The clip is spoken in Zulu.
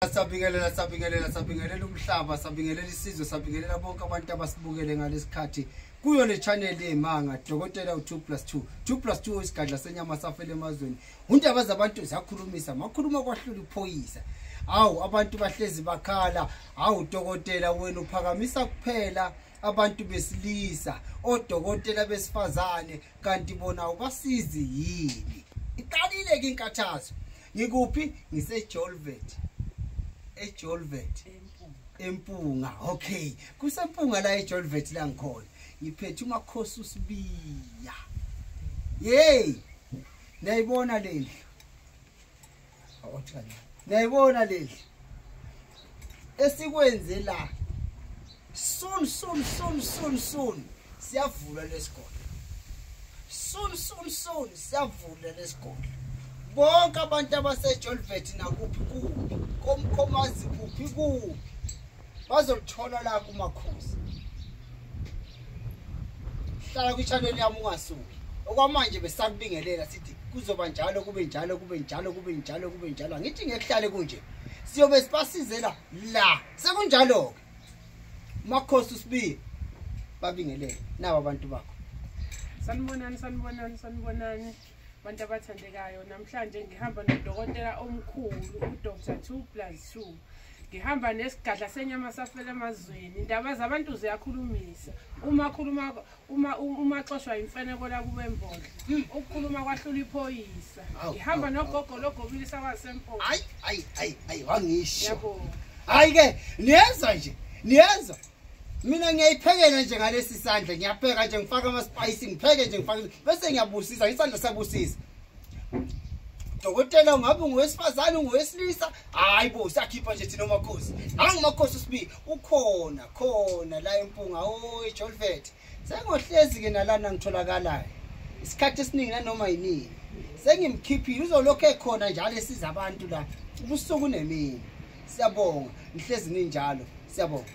Sabingelela sabingelela sabingelela umhlaba sabingelela isizwe sabingelela bonke abantu abasibukele ngalesikhathi kuyo le channel yemanga dokotela u2 plus 2 2 plus 2 isigadla senyama safele emazweni undaba zabantu ziyakhulumisa makhuluma kwahlula iphoyisa awu abantu bahlezi bakhala awu dokotela wena uphakamisa kuphela abantu besilisa odokotela besifazane kanti bona ubasizi yini iqalile ke inkathazo ngikuphi ngisejolvet ejolvet empunga okay kusempunga la ejolvet la ngikhona ngiphethe umakhosi usibiya yey niyayibona lendlu niyayibona lendlu esikwenze la soon soon soon soon soon siyavula lesikole soon soon soon siyavula lesikole bonke abantu abasejolvet nakuphi kuphi komkhomazi kuphi kuphi bazolithola la kumakhosi hlala kwi-channel yami ungasuki okwamanje besakubingelela sithi kuzoba njalo kube njalo kube njalo kube njalo kube njalo angithi ngekuhlale kunje siyobe sibasizela la sekunjalo-ke makhosi usibiye babingelele nabo abantu bakho sanibonani sanibonani sanibonani abantu abathandekayo namhlanje ngihamba nodokotela omkhulu udr two plus two ngihamba nesigadla senyama safela emazweni indaba zabantu ziyakhulumisa uma khuluma uma uma xoshwa imfeneko la kube mbodla hmm. ukukhuluma kwahlula iphoyisa ihamba nogogo logobile sawasempo hayi hayi hayi hayi wangisho yabo hayi ke niyeza nje niyeza mina ngiyayiphekela nje ngalesi sandla ngiyapheka nje ngifaka ama spice ngipheke nje ngifaka bese ngiyabusisa isandla sabusisa dokotela ungabe ungowesifazane ungowesilisa hayi bo sakhipha nje thina omakhosi nangu umakhosi usibi ukhona khona la empunga oyi jolvet sengohlezi-ke nalana ngitholakalayo isikhathi esiningi nanoma yiningi sengimkhiphile uzolokhu ekhona njalo esiza abantu la ubusuku nemini siyabonga ngihlezi ninjalo siyabonga